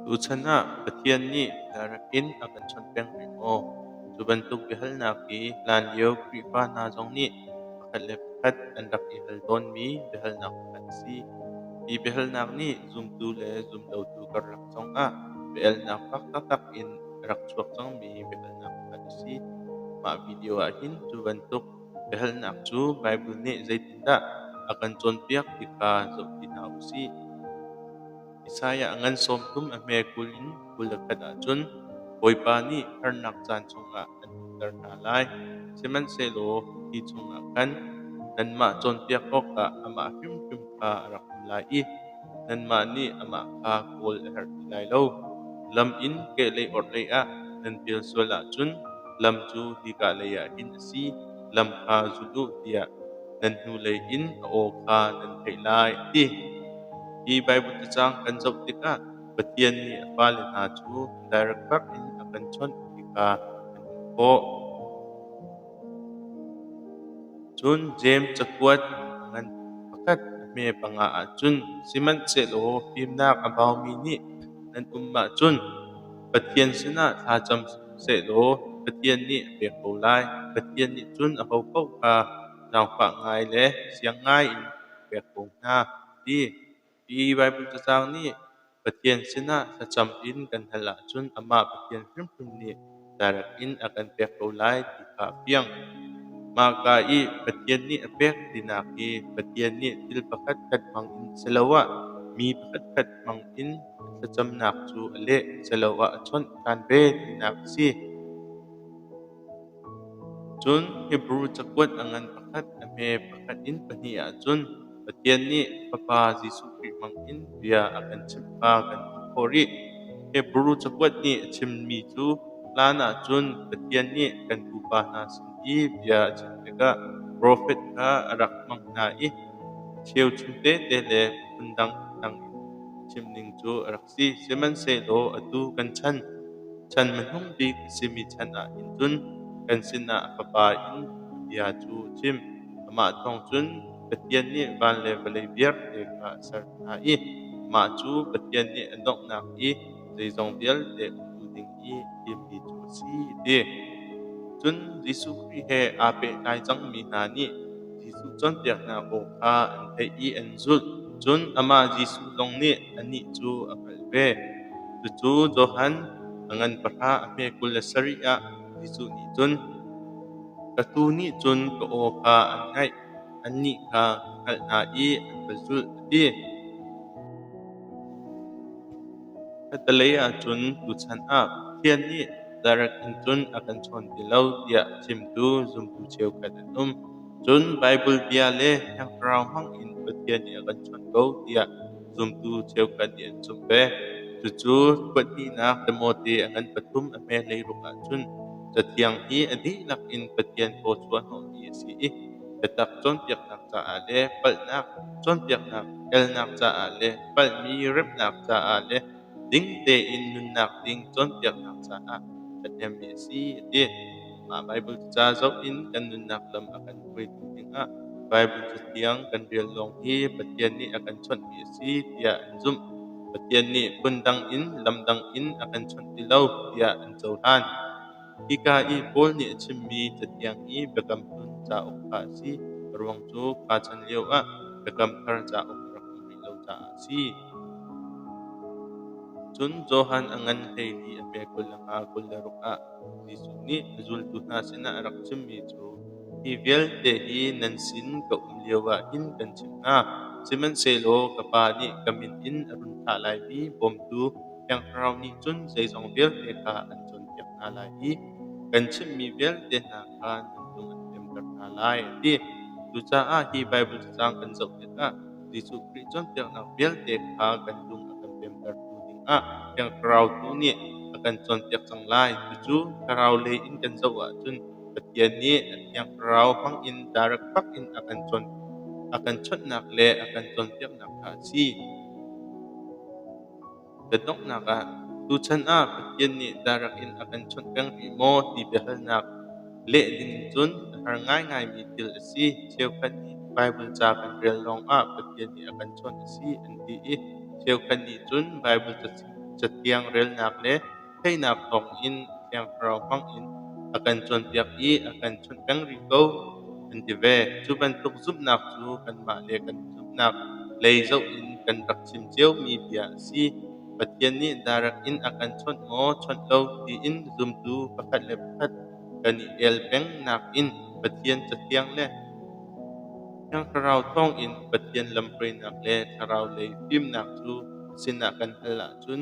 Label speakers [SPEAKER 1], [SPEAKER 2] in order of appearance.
[SPEAKER 1] Tuchan ah Pathian nih bialarak in a kan chawnh peng lai maw? Cu bantuk biahalnak hi hlanlio Khrihfa hna zong nih pakhat le pakhat an rak i hal tawnmi biahalnak pakhat a si. Hi biahalnak nih zumtu le zumlotu karlak zongah biahalnak fak taktak in a rak chuak cangmi biahalnak pakhat a si. Mah video ahhin cu bantuk Biahalnak cu Baibal nih zeitindah a kan cawnpiak ti kha zoh ti hna u sih. Isaiah ngan sawmthum a hme kul in kul le khat ahcun Bawipa nih harnak caan chungah an ṭutter hna lai, sihmanhsehlaw hi chungah khan nanmah cawnpiak awkah amah hrimhrim kha a rak um lai i Nanmah nih amah kha kawl a herh ti lai lo. Lam in kehlei orhlei ah nan pel sual ahcun lam cu hika leiah hin a si, lam kha zul u tiah nan hnulei in a aw kha nan theih lai, a ti. Hi Baibal cacang kan zoh tikah Pathian nih a fale hna cu direct bak in a kan chawnh ti kha an hmuh khawh. Cun Jeim cakuat ngan pakhat a hme panga ahcun sihmanhsehlaw fimnak a baumi nih nan um ahcun Pathian sinah thlacam sehlaw Pathian nih a pek ko lai. Pathian nih cun ahopaoh kha zaangfah ngai le siang ngaiin a pek ko hna, a ti. Hi Baibal cacang nih Pathian sinah thlacam in kan hal ahcun amah Pathian hrimhrim nih darak in a kan pek ko lai ti kha a fiang. Mahka i Pathian nih a pek tinak hi Pathian nih thil pakhatkhat hmangin siloah mi pakhatkhat hmangin thlacamnak cu a leh siloah a chawnh ṭhan ve tinak a si. Cun Hebru cakuat a ngan pakhat a hme pakhat in pahnih ahcun Pathian nih Fapa Jesuh Khrih hmangin bia a kan chimh kha kan hmuh khawh rih. Hebru cakuat nih a chimmi cu hlan ahcun Pathian nih kan pupa hna sin i bia a chim tikah profet kha a rak hmang hna i cheuchum tete le phundang phundang in chimning cu a rak si. si sihmanhsehlaw atu kan chan, chan hmanung bik a simi chan ah hin cun kan sinah Fapa in bia cu chim. Amah thawng cun Pathian nih van le vawlei vialte kha a ser hna i amah cu Pathian nih a donghnak i zeizong vialte a hmu ding i timmi cu a si ti. Cun Jesuh Khrih he aa pehtlai cangmi hna nih Jesuh cawnpiaknak aw kha an theih i an zulh. Cun amah Jesuh zong nih anih cu a hngalh ve. Cucu Johan a ngan pahra a hme kul le sarih ah Jesuh nih cun, Ka tuu nih cun ka aw kha an ngaih, annih kha ka hngalh hna i an ka zulh, a ti. Khatalei ahcun tuchan ah Pathian nih direct in cun a kan chawn ti lo tiah chimtu zumtu cheukhat an um. Cun Baibal bia le Thiang Thlarau hmangin Pathian nih a kan chawn ko tiah zumtu cheukhat nih an zumh ve. Cucu pahnihnak Timote a ngan pathum a hmailei ruk ahcun Cathiang hi a dihlak in Pathian thawchuahhnawhmi a si i biatak cawnpiaknak caah le palhnak cawnpiaknak elnak caah le palhmi remhnak caah le ding tein nunnak ding cawnpiaknak caah ṭhahnemmi a si a ti. Mah Baibal ca zoh in kan nunnak lam a kan hruaitu dingah Baibal Cathiang kan rel lawng hi Pathian nih a kan chawnhmi a si tiah an zumh. Pathian nih phundang in lam dang in a kan chawnh ti lo tiah an cohlan. Hika i Paul nih a chimmi Cathiang i Biakam Hlun cauk kha a si, a ruang cu pa chan lioah Biakam Thar cauk rak um rih lo caah a si. Cun Johan a ngan hleili a pe kul le nga kul le ruk ah Jesuh nih na zultu hna sinah a rak chimmi cu hi vialte hi nan sin ka um lioah hin kan chimh hna, sihmanhsehlaw ka Pa nih ka min in a run thlah lai mi bawmtu Siangpahrang nih cun zeizong vialte kha an cawnpiak hna lai i kan chimmi vialte hna kha nan cung an piamter hna lai, a ti. Cucaah hi Baibal cacang kan zoh tikah Jesuh Khrih cawnpiaknak vialte kha kan cung a kan piamtertu dingah Thiang Thlarau tu nih a kan cawnpiak cang lai. Cucu thlarau lei in kan zoh ahcun Pathian nih a Thiang Thlarau hmangin direct bak in a kan cawn a kan chawnhnak le a kan cawnpiaknak kha a si. Kan donghnak ah tuchan ah Pathian nih darak in a kan chawnh peng rih maw ti biahalnak leh dingin cun a har ngaingaimi thil a si. Cheukhat nih Baibal ca kan rel lawngah Pathian nih a kan chawnh a si an ti i cheukhat nih cun Baibal cathiang relnak le Theihnak thawng in Thiang Thlarau hmangin a kan cawnpiak i a kan chawnh peng rih ko, kan ti ve. Cu bantuk zumhnak cu kanmah le kan zumhnak lei zoh in kan rak chim ciomi bia a si. Pathian nih direct in a kan chawnh maw, chawnh lo tiin zumtu pakhat le pakhat kan i el peng nakin Pathian cathiang le Thiang Thlarau thawngin Pathian lamhruainak le thlarau lei fimnak cu sinah kan hal ahcun